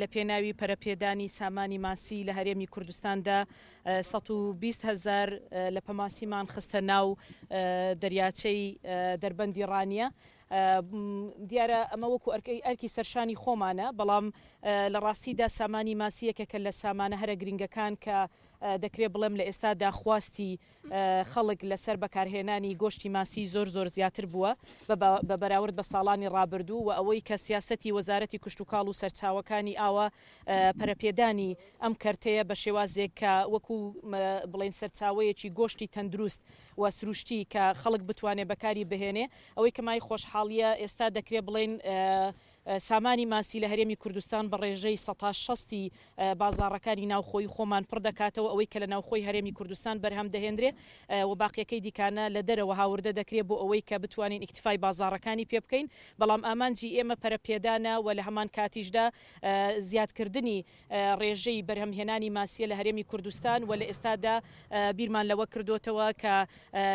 لە پێناوی پەرەپێدانی سامانی ماسی لە هەرێمی کوردستاندا 120 هزار لە پەماسیمان خستە ناو دەریاچەی دەربەندی ڕانیە دیارە ئەمە وەکو ئەرکەی ئەرکی سەرشانی خۆمانە، بەڵام لە ڕاستیدا سامانی ماسی یەکێکە لە سامانە هەرە گرنگەکان کە دەکرێ بڵێم لە ئێستادا خواستی خەڵک لەسەر بەکارهێنانی گۆشتی ماسی زۆر زۆر زیاتر بووە بە بەراورد بە ساڵانی ڕابردوو و ئەوەی کە سیاسەتی وەزارەتی کشتوکاڵ و سەرچاوەکانی ئاوە پەرەپێدانی ئەم کەرتەیە بە شێوازێک کە وەکو بڵێن سەرچاوەیەکی گۆشتی تەندروست و سروشتی کە خەڵک بتوانێ بەکاری بهێنێ ئەوەی کە مای خۆشحاڵییە، ئێستا دەکرێ بڵێین سامانی ماسی لە هەرێمی کوردستان بە ڕێژەی سەتا شەستی بازاڕەکانی ناوخۆی خۆمان پڕ دەکاتەوە، ئەوەی کە لە ناوخۆی هەرێمی کوردستان بەرهەم دەهێندرێ و باقیەکەی دیکانە لە دەرەوە هاوردە دەکرێ بۆ ئەوەی کە بتوانین ئیکتیفای بازاڕەکانی پێ بکەین، بەڵام ئامانجی ئێمە پەرەپێدانە و لە هەمانکاتیشدا زیادکردنی ڕێژەی بەرهەمهێنانی ماسییە لە هەرێمی کوردستان و لە ئێستادا بیرمان لەوە کردۆتەوە کە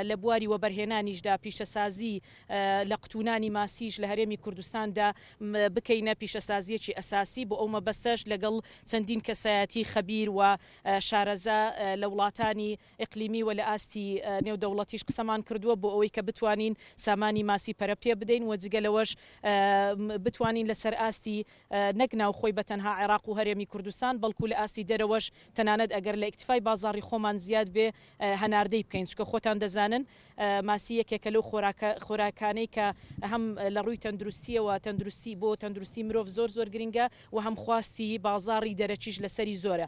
لە بواری وەبەرهێنانیشدا پیشەسازی لە قوتونانی ماسیش لە هەرێمی کوردستاندا بکەینە پیشەسازییەکی ئەساسی بۆ ئەو مەبەستەش لەگەڵ چەندین کەسایەتی خەبیر و شارەزا لە وڵاتانی ئیقلیمی و لە ئاستی نێودەوڵەتیش قسەمان کردووە بۆ ئەوەی کە بتوانین سامانی ماسی پەرە پێ بدەین و جگە لەوەش بتوانین لەسەر ئاستی نەک ناوخۆی بە تەنها عێراق و هەرێمی کوردستان بەڵکو لە ئاستی دەرەوەش تەنانەت ئەگەر لە ئیکتیفای بازاڕی خۆمان زیاد بێ هەناردەی بکەین چونکە خۆتان دەزانن ماسی یەکێکە لەو خۆراکە خۆراکانەی کە هەم لە ڕووی تەندروستییەوە تەندروستی بۆ تەندروستی مرۆڤ زۆر زۆر گرنگە و هەم خواستی بازاڕی دەرەکیش لەسەری زۆرە.